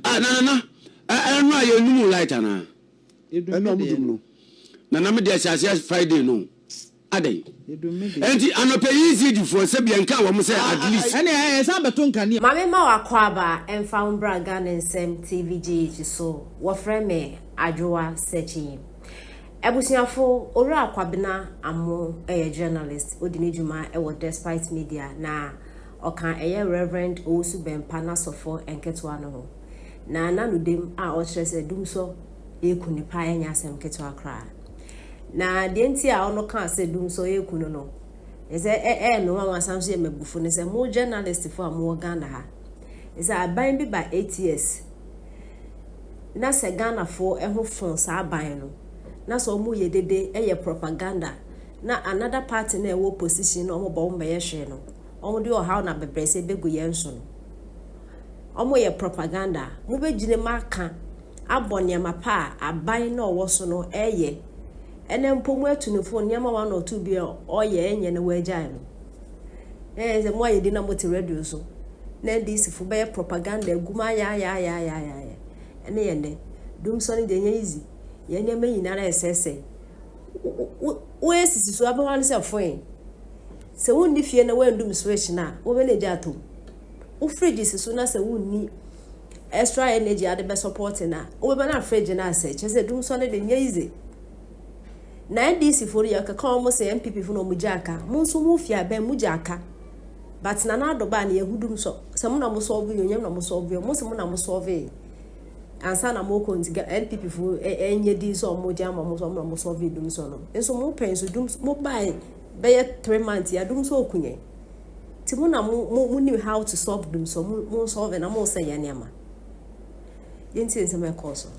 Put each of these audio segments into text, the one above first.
Ah nana na ɛno a yɛ num light anaa. Ɛna ɔmo dum no. Nana me deɛ hyɛaseɛ Friday no. Adɛn. Ɛnti anɔpɛ yi zidi foɔ sɛ bia nka wɔn sɛ at least. Ɛne ɛyɛ ɛsan bɛto nkanea. Mame ma w'akwaaba mfa wo mbra Ghana Nsɛm TV GH so, wɔfrɛ me Adwoa Sekyii. Abusuafo, Owura Kwabena Amoo yɛ journalist, odi ne dwuma wɔ Despite Media na Ɔka ɛyɛ Rev. Owusu Bɛmpa n'asɔfoɔ nketewa no ho. Na na no dem a ɔkyerɛ sɛ Dumsɔ reku no paa nyɛ asɛm ketewa koraa. Na deɛ nti a ɔno kaa sɛ Dumsɔ reku no no, ɛsɛ ɛyɛ me nwanwa san nso yɛ m'abufo ne sɛ mo journalistfoɔ a mowɔ Ghana ha, ɛsɛ aban bi ba eight years na sɛ Ghanafoɔ ho fɔn saa aban no na sɛ wɔyɛ dede yɛ propaganda na another party na ɛwɔ position na wɔbɔ wɔn bɛyɛ hwee no wɔn de ɔhaw na abɛbrɛsɛ bɛgu yɛn so no wɔn yɛ propaganda a mobɛgyina mu aka abɔ nneɛma pa a aban na ɔwɔ so no ɛyɛ ɛnɛ mpo mu atu ne fo nneɛma wɔn na ɔtu bi a ɔyɛ ɛnyɛ na wɔagyae no ɛyɛ sɛ mo ayɛ di na mo te radio so na ndc fo bɛyɛ propaganda agu mu ayaayaayaayaayɛ ɛne yɛn dɛ dumsɔ no deɛ nyɛ easy yɛn nneɛma nyinara ɛsɛsɛ wo wo esisi so abɛwa no sɛ foe sɛ wonni fie na woandum switch no a wobɛ na gya atom wo fridge si so na sɛ wonni extra energy ade bɛ support no a wobɛba na fridge no asɛ kyerɛ sɛ dum sɔre de nyɛ yize na ndc fo no yɛkeka wɔn sɛ npp fo na wɔn gya aka mo nso mo fie abɛn mo gya aka but na n'adɔba na yɛhu dum sɔ sɛ mo na mo sɔɔve yɛ onyam na mo sɔɔve yɛ mo sɛ mo na mo sɔɔve ansa na mo kɔ nti ga npp fo ɛnyɛ di sɛ ɔmo gya ama mo sɛ ɔmo na mo sɔvi dum so no nso mo pɛn so dum mo bae bɛyɛ three months ya dum so oku yɛn ti mo na mo mo mo nim how to solve dum so mo mo sɔvi na mo sɛ yɛ nneɛma yɛn ti nsɛm ɛkɔɔ so.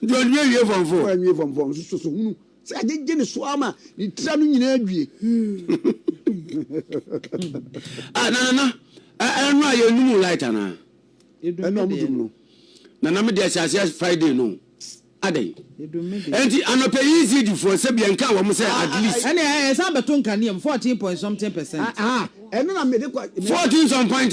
Nti ɔde me awie fɔm fɔɔ. Ɔde me awie fɔm fɔɔ nso sɔsɔ hunu sɛ agyegye ne so ara ma ne tira no nyinaa due. Ah, na nana, ɛno a yɛnum light anaa? Ɛno a mudum no. Nana me deɛ sɛ aseɛ Friday no adɛn? Ɛnti anɔpɛ yi ECD foɔ sɛ bia nka wɔn sɛ at least. Ɛne a yɛsan bɛto nkanea mu fourteen point something percent. Ah, ɛno na mede kɔ. Fourteen some point.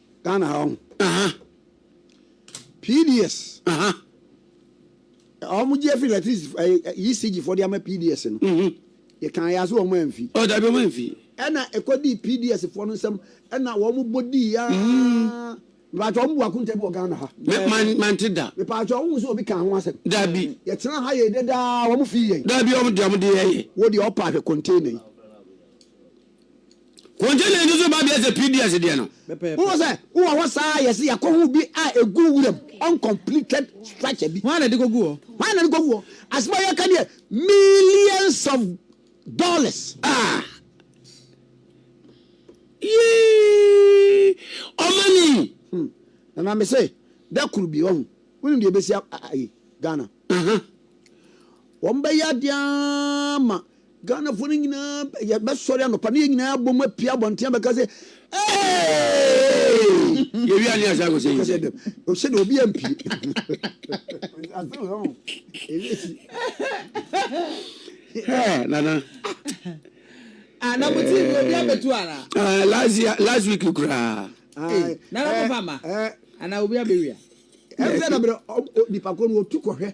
Ghana ha ɔho. Aha. PDS. Aha. Ɔmo gye afiri electricity ɛyi eh, eh, ECG fo de ama PDS no. Mhm. Yɛ kan yɛ aso ɔmo anfi. Ɔ dabi ɔmo anfi. Ɛna ɛkɔ di PDS fo no nsɛm ɛna wɔn bɔ di ya. Mhm. Mepatwa ɔmo bu akunta bi wɔ Ghana ha. Mɛ man man ti da. Mepatwa ɔmo nso obi kan ho asɛm. Dabi. Yɛ tena ha yɛ dɛ daa ɔmo fi yɛ. Dabi ɔmo de ɔmo de yɛ yɛ. Wo de ɔpa ahwɛ container yi. Container no so babea sɛ PDS deɛ no. Wowɔ sɛ wowɔ hɔ saa a yɛse yɛkɔ ho bi a egu wuram uncompleted structure bi. Hwan na de kɔgu hɔ? Hwan na de kɔgu hɔ? Asɛm a yɛka deɛ millions of dollars. Ah! Yii! Ɔmani! Hmm. Na na mese da koro bi ɔho. Wonim deɛ ɛbɛsi ayi Ghana? Aha. Wɔn bɛyɛ adeɛ ma Ghanafoɔ no nyinaa yɛbɛsɔre anɔpa na yɛn nyinaa abom apia abɔnten abɛka sɛ yɛwia ne asa akɔsɛ yi sɛ ɔhyɛ dɛ obi ampie nana anamotii obi abɛtu ara ah, last week koraa nana mopama ana obi abɛwia ɛfɛ na berɛ nipa kɔ no ɔtu kɔhwɛ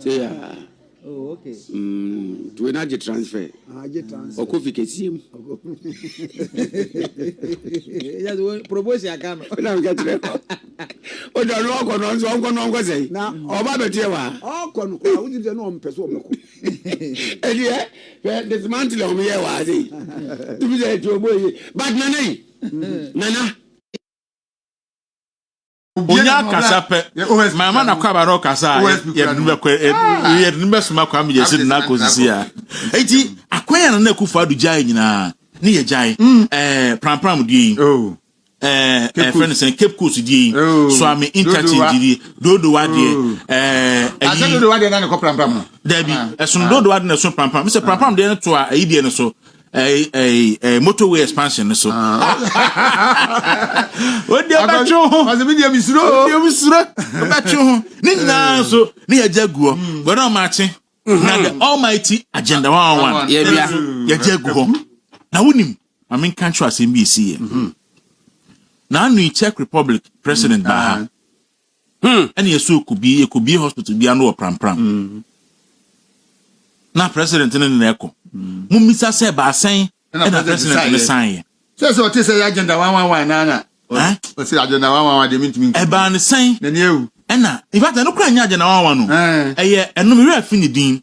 Tseaa Tuwe na gye transfer ɔkɔ fi kɛseɛ mu. Ɛna meka kyerɛ ɔdwa no ɔkɔ no nso ɔnkɔ no ɔnkɔ sɛ ɔba bɛteɛ wɔ ha. Ɔkɔ no koraa wogye sɛ na ɔmpɛ sɛ ɔbɛkɔ. Ɛdeɛ hwɛ dismantle a wɔyɛɛ wɔ ha sɛ yi. Tubi sɛ ɛti ɔbɔ yi but nana yi nana. onya akasa pɛ mama na kwaba no kasa a yɛde no bɛkɔ yɛde no bɛsoma kwa meyɛ sɛ na akɔ sisi a enti akwan a na akufo ado gyae nyinaa ne yɛ gyae mm. ɛɛ prampram die yi oh. ɛɛ ɛfɛ no sɛn cape coast die yi oh. swami interchange die dodowa deɛ oh. ɛɛ ɛyi asɛ dodowa deɛ na ne kɔ prampram no dabi ah. ɛsono ah. dodowa deɛ na ɛsono prampram sɛ ah. prampram deɛ no to a ɛyi deɛ no so. ɛɛ ɛɛ ɛɛ motorway expansion no so. Ah. Wode bɛtwe ho. Ɔsɛ mi deɛ mi suro. Wode mi suro. Bɛtwe ho. Ne nyinaa nso ne yɛ gya guɔ. Wɛrɛ ɔmo akye. Na the almighty agenda one on one. Yɛ bia. Yɛ gya gu hɔ. Na wunim. Maame nka nkyerɛ asɛm bi esi yɛ. Na anu Czech Republic president baa ha. Hmm. Ɛna yɛsɔ ekubie ekubie hospital bi ano wɔ prampram. Hmm. Na president no na ɛkɔ. Hmm. Mo mmisa sɛ baasɛn ɛna president no san yɛ. Sɛ sɛ ɔte sɛ yɛ agenda one one one nana. Ɔsi agenda one one one deɛ mi ntumi nkiri. Ɛbaa ne sɛn. N'ani ewu. Ɛna in fact ɛno kura nyɛ agenda one one one no. Ɛyɛ ɛnum ewura fi ne din.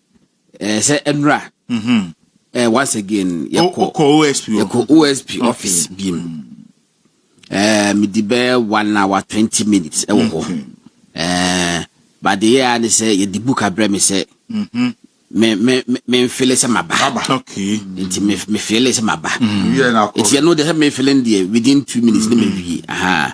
ɛɛ eh, sɛ ɛnura mm-hmm. ɛɛ eh, once again yɛkɔ yɛkɔ osp office bi mu ɛɛ midi bɛɛ one hour twenty minutes ɛwɔ hɔ ɛɛ mm-hmm. baade yɛ a ne sɛ yɛde book abrɛ mi sɛ mm-hmm. me me me nfele sɛ ma ba nti me me fele sɛ ma ba nti yɛn no de sɛ me fele deɛ within two minutes ne ma wie ahaa.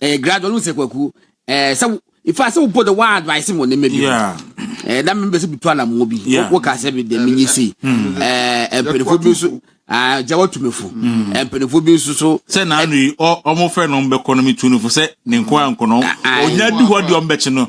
ɛyɛ gradual sɛ kwaku ɛɛ sɛ ifa sɛ wopɔ de wa advice mo ne mɛbi ɛɛ na mɛbi sɛ bitu alamuo bi woka sɛ bi de mi nyi si mm. ɛɛ mpanyinfoɔ bi nso aa gya watu mi fo mm. mpanyinfoɔ bi nso so. sɛ naanu yi ɔmo fɛ na ɔmo bɛ kɔ na mi tu ne fo sɛ ne nko ankɔ na ɔnya di hɔ di ɔmo bɛ kyi no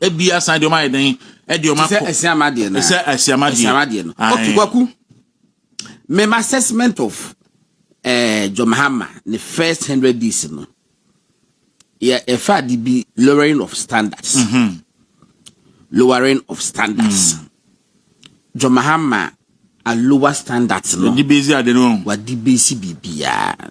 ebi asan de wɔn ayɛ dɛn ɛde wɔn akɔ sɛ asiama deɛ na sɛ asiama deɛ asiama deɛ no okay kwaku my assessment of ɛɛ eh, John Mahama ne first hundred days no yɛ ɛfa de bi lowering of standards mm -hmm. lowering of standards mm. John Mahama a lower standards no wadi besi ade no wadi besi biribiara.